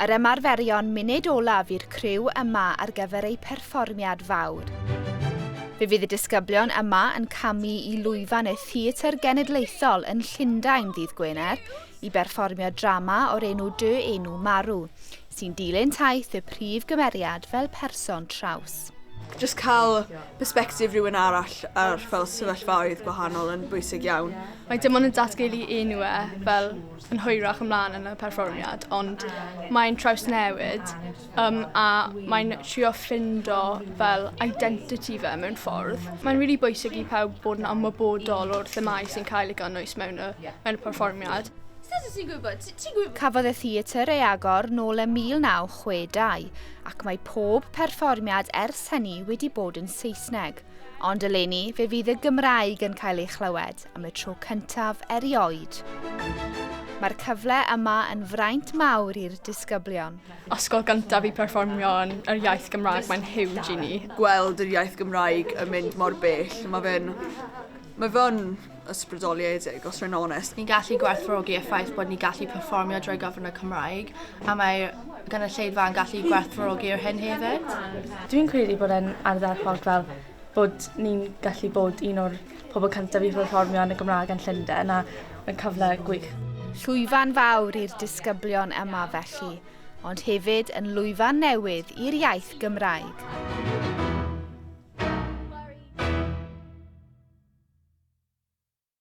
Yr ymarferion munud olaf i'r criw yma ar gyfer eu perfformiad fawr. Fe fydd y disgyblion yma yn camu i lwyfan y Theatr Genedlaethol yn Llundain ddydd Gwener i berfformio drama o'r enw Dy Enw Marw, sy'n dilyn taith y prif gymeriad fel person traws. Jyst cael persbectif rhywun arall ar fel sefyllfaoedd gwahanol yn bwysig iawn. Mae dim ond yn datgelu enw e fel yn hwyrach ymlaen yn y perfformiad, ond mae'n trawsnewid um, a mae'n trio ffindo fel identity fe mewn ffordd. Mae'n rili really bwysig i pawb bod yn ymwybodol o'r themau sy'n cael ei gynnwys mewn y, mewn y perfformiad. Cafodd y theatr ei agor nôl ym 1962 ac mae pob perfformiad ers hynny wedi bod yn Saesneg, ond eleni fe fydd y Gymraeg yn cael ei chlywed. am y tro cyntaf erioed. Mae'r cyfle yma yn fraint mawr i'r disgyblion. Ysgol gyntaf i perfformio yn yr iaith Gymraeg, mae'n huge i ni. Gweld yr iaith Gymraeg yn mynd mor bell, mae fe'n mae fe'n ysbrydoliedig, os rwy'n onest. Ni'n gallu gwerthfawrogi y ffaith bod ni'n gallu perfformio drwy gyfrwng y Cymraeg, a mae'r gynulleidfa yn gallu gwerthfawrogi'r hyn hefyd. Dwi'n credu bod e'n ardderchog fel bod ni'n gallu bod un o'r pobl cyntaf i pherfformio yn y Gymraeg yn Llundain a mae'n cyfle gwych. Llwyfan fawr i'r disgyblion yma felly, ond hefyd yn lwyfan newydd i'r iaith Gymraeg.